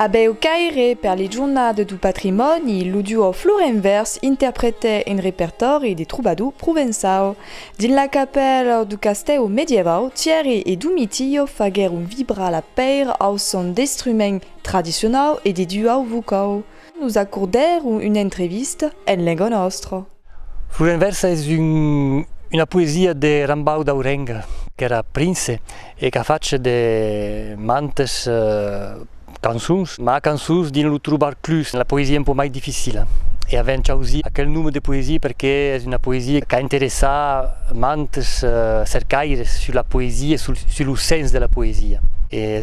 Abeu caire per li jornade du patrimòni, lo duo Florenvers interprete un repertòri de trobador provençau. Dins la capèla du castèu medievau, Thierry e Domitillo faguèron vibrar la pèira au son d'instruments tradicionau e de duau vocau. Nos acordèr una entrevista en lenga nòstra. Flor en vèrsa es una poesia de Rambau d'Aurenga, qu'èra prince e qu'a fach de mantes cançons, mas cançons dins lo trobar clus la poesia un pauc mai dificila. E avèm chausit aquel nome de poesia perque es una poesia qu'a interessar mantes cercaires sus la poesia e sus lo sens de la poesia.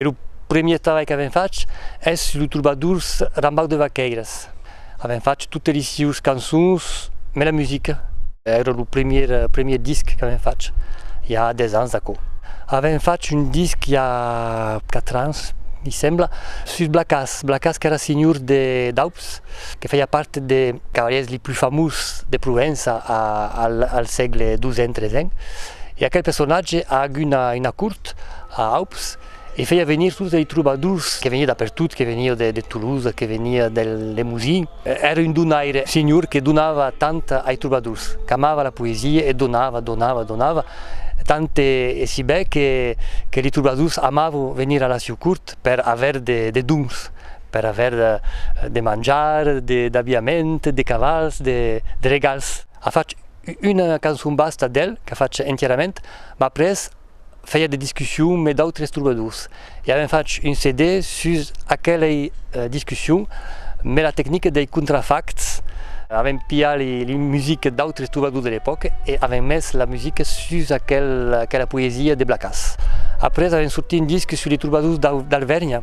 E lo premier trabalh qu'avèm fach es sus los trobadors Rambaud de Vaquèiras. Avèm fach totes li sieus cançons, mai la musica. Èra lo premier, premier disc qu'avèm fach, i a 10 ans d'aquò. Avèm fach un disc i a 4 ans, mi sembla, sus Blacàs. Blacàs qu'èra senhor de Daups, que faiá part de cavalièrs li plus famós de Provença al sègle xii-en, xiii-en. E aquel personatge a agut una cort. a Aups e feia venir totes lei trobadors que venian d'apertot, que venian de Toulouse, que venian del Lemosin. Èra un donaire, senhor, que donava tant ai trobadors, qu'amava la poesia e donava, donava, donava, tant e si bè que que lei trobadors amavan venir a la sieu cort per aver de dons, per aver de manjar, d'abiament, de cavals, de regals. A fach una cançon basta d'el, qu'a fach entierament, m'a pres fèia de discussions mes d'autres trobadors e avèm fach un CD sus aquelei discussions mes la tecnica dei contrafacts, avèm piat li musiques d'autres trobadors de l'epòca e avèm mes la musica sus aquela poesia de Blacas. Après avèm sortit un disc sus li trobadors d'Alvèrnia.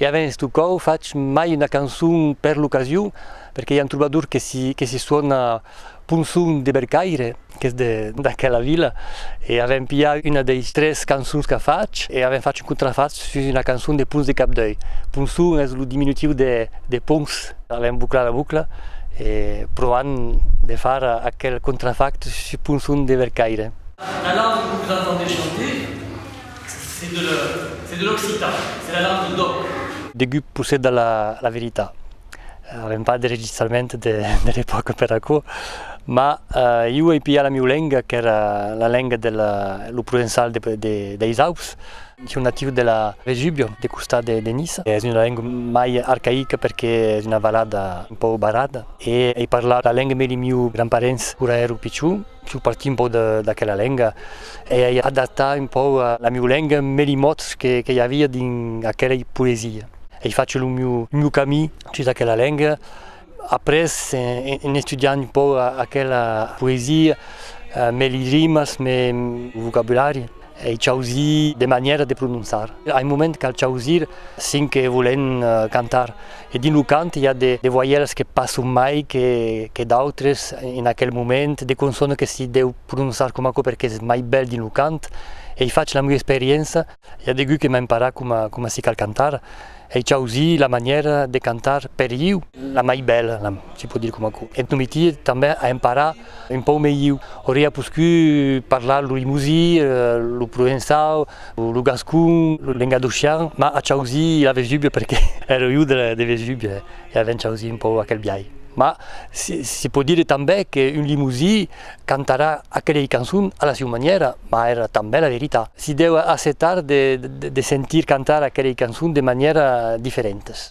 E avens tu còu fach mai una cançon per l'ocasion, perque i a un trobador que si que si suòna Ponson de Bercaire, qu'es de d'aquela vila, e avem pilhat una deis tres cançons qu'a fach e avem fach un contrafach sus una cançon de Pons de Capdèu. Ponson es lo diminutiu de de Pons. Avem bouclat la boucla e provant de far aquel contrafach sus Ponson de Bercaire. Alaun, vos la tendé chanter? C'est de l'or, c'est de l'occitan, c'est la langue d'oc. Degut possèda la veritat. Avèm pas de registrament de l'epòca per aquò, mas iu ai pilhat la mieu lenga qu'èra la lenga de lo provençal deis Aups. Son natiu de la Vésubio, de costat de Niça. Es una lenga mai arcaica perque es una valada un pauc barrada e ai parlat la lenga mei de mieu grand parents quora èro pichon. Su partir un pauc d'aquela lenga e ai adaptat un pauc la miu lenga en meli mots que i avia dins aquelei poesia. Ai fach lo miu camin sus aquela lenga. Après, en estudiant un pauc aquela poesia, meli rimas, meu vocabulari, Ei chausir de manièra de prononçar. A un moment cal chausir cinc que volen cantar e dins lo cant i a de voièlas que passon mai que d'autres en aquel moment, de consònas que si deu prononçar coma aquò perque es mai bèl dins lo cant. Ei fach la meu experiença, i a degut que m'ai emparat coma si cal cantar Ei chausi la manièra de cantar per iu la mai bèla, si pòt dire coma aquò. Eth non mitie tanben a emparar un pauc melhiu. Auria poscut parlar lo limosí, lo provençau, lo gascon, lo lengadocian, mas a chausi la Vesúvia perque ère iu de Vesúvia e avèm chausi un pauc aquel biais. Mas se pòt dire tanben qu'un limosí Cantarà aquelei cançon a la siu manièra, mas èra tanben la verita. Si deu accetar de sentir cantar aquelei cançon de manièra diferentas.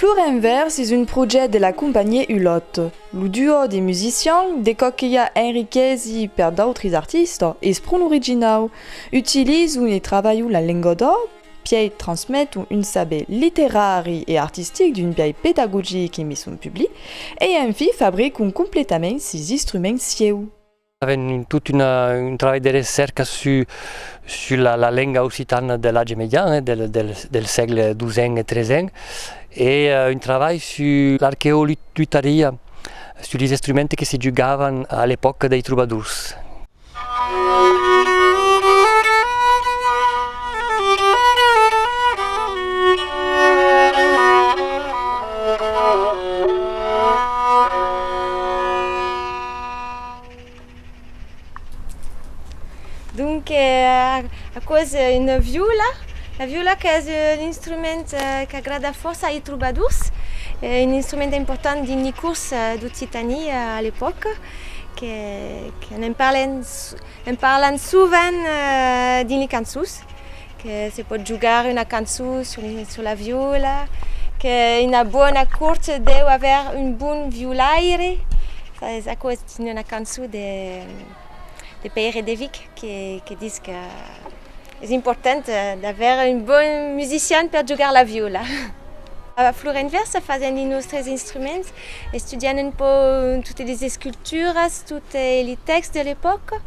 Flor en vèrs es un projèct de la companhié Hulot. Lo duò de musicians, de còp que i a enriquesi per d'autris artistas, es pron originau. Utilizu e travalhu la lenga d'òc, pièi transmetu un saber literari e artistic d'un biais pedagogic e mission public, e enfi fabricu completament sis instruments sieu. Avèm tot un trabalh de recèrca sus la lenga occitana de l'atge median, del sègle xii e xiii, e un trabalh sus l'arqueolutaria, sus los instruments que se jugavan a l'epòca dei trobadors. Donc aquò es una viola, la viola qu'es un instrument qu'agrada fòrça ai trobadors, un instrument important dins li cors d'Occitani a l'epòca, que n'en parlan sovent dins li cançons. Que se pòt jogar una cançon sus la viola, que una bona cort deu aver un bon violaire, es aquò es dins una cançon de Pèire de Vic que ditz que es important d'aver un bon musician per jogar la viola. A Florenvèrsa fasèm de nòstres instruments Estudiant un pauc totes les esculturas, tot li tèxt de l'epòca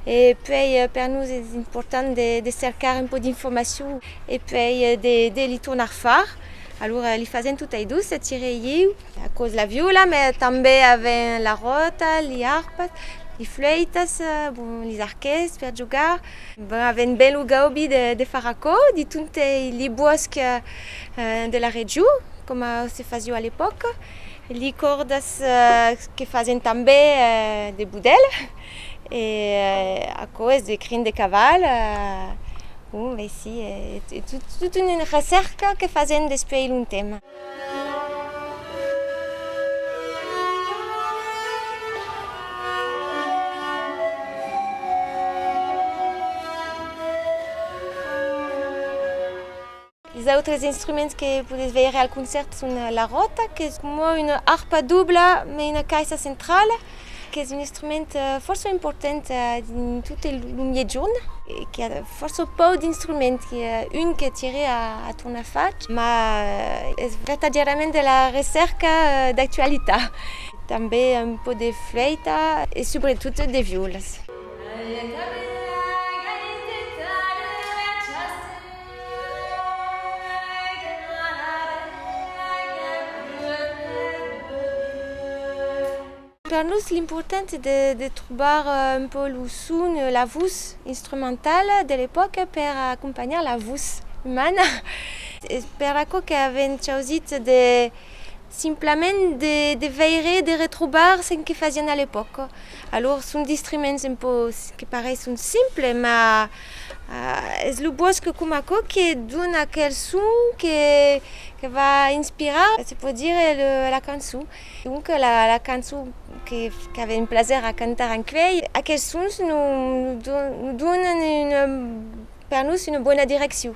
e puèi per nos es important de cercar un pauc d'informacion e puèi de li tornar far. Alura li fasèm tot ai dos, Cire e ieu. Aquò's la viola, mès tanben avèm la ròta, li arpas, li flèitas, bon, li arquets per jogar. Bon, avèm ben lo gaudi de far aquò, diton li bòsc de la region, coma se fasió a l'epòca, li còrdas que fasen tanbè de budèl e aquò es de crin de caval, bon ben si es tota una recèrca que fasen despuèi longtemps. Es autres instruments que podètz veire al concèrt son la ròta, qu'es coma una arpa dobla mai una caissa centrala, qu'es un instrument fòrça important dins tot lo Miègjorn e qu'i a fòrça pauc d'instruments, qu'i a un que tire a tornar fach, ma es vertadièrament de la recèrca d'actualitat. Tanben un pauc de flèita e subretot de viòlas. Per nos l'important es de trobar un pòu lo son, la vos instrumentala de l'epòca per acompanhar la vos umana. Es per aquò qu'avèm chausit de Simplament de veire e de retrobar çen que fasián a l'epòca. Alors son distriments un pò que pareisson simples, mas es lo bòsque com aquò que dona aquel son que va inspirar, se pòt dire, la cançon. Donc la cançon qu'avèm plaser a cantar en cuèi, aquels sons nos donan per nos una bona direccion.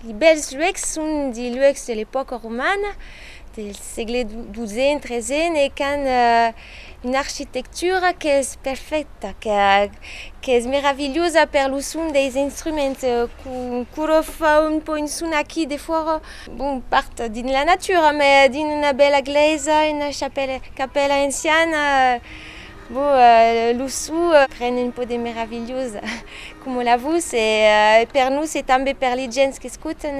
Li bèls luecs son de luecs de l'epòca romana, del sègle dusent, tresen e qu'an una architectura qu'es perfècta, qu'es meravilhosa per lo son deis instruments qu'aquò fa un pò un son aquí de fòra, bon, pas dins la natura, mas dins una bèla glèisa, una capèla anciana. Bo, lo sou pren un pò de meravilhós coma la vos e per nos e tanbe per li gents qu'escotan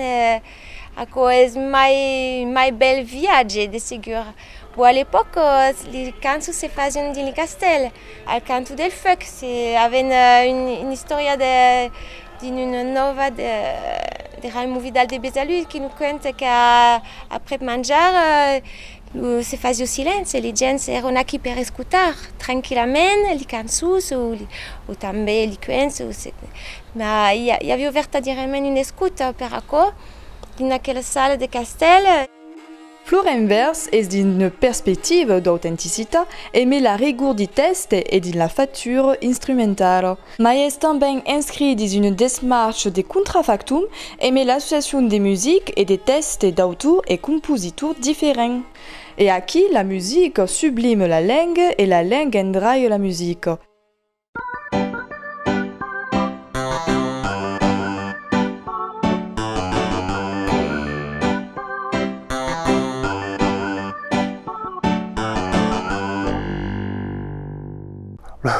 aquò es mai mai bèl viatge de segur. Bo a l'epòc li cançons se fasián dins li castèl, al canto del feuc se aven un istòria de dins una nòva de de Raimon Vidal de Besalú qui nos cuenta qu'a aprèp manjar Se fasió silenci, li gents èron aquí per escotar tranquillament li cançons o tanben li cuents, ma i avió vertadièrament una escota per aquò dins aquela sala de castèl. Florenvers es dins una perspectiva d'autenticitat e me la rigor di tèxte e dins la factura instrumentala. Mai es tanben inscrit dins una desmarcha de contrafactum emé l'associacion de music e de tèxte d'autor e compositor diferent. E aquí la music sublime la lenga e la lenga endraia la music.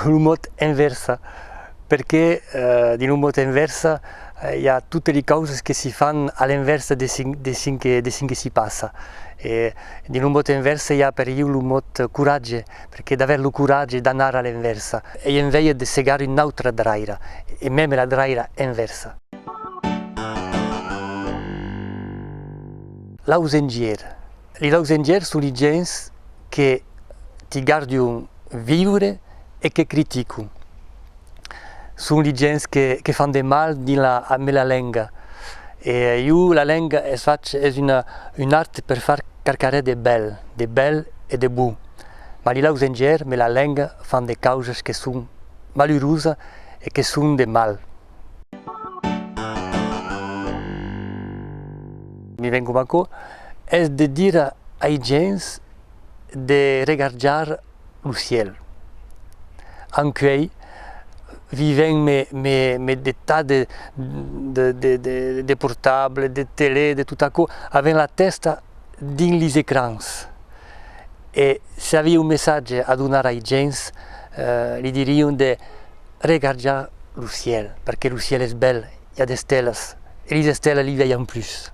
lo mot envèrsa, perqué dins lo mot envèrsa i a totes li causas que si fan a l'envèrsa de çò que si passa e dins lo mot envèrsa i a per ieu lo mot coratge, perqué d'aver lo coratge d'anar a l'envèrsa, ei en vèia de segar una autra draira e meme la draira envèrsa. L'ausengièr, Li dau zengièrs su li gents que ti gardion viure e que criticon. Son li gents que que fan de mal dins la a mela lenga. E iu la lenga es fach es una un art per far qualcarè de bèl, de bèl e de bon. Ma li dau zengièrs mela lenga fan de causas que son malurusa e que son de mal. Mi ven coma aquò, es de dire ai gents de regarjar lo ciel. Ancuei vivèm me de tas de de portable, de tele, de tot aquò, avèm la tèsta dins lis ecrans. E se aviá un messatge a donar ai gents, li dirion de. regarja lo ciel perque lo ciel es bèl i a d'estelas e lis estelas li veian plus.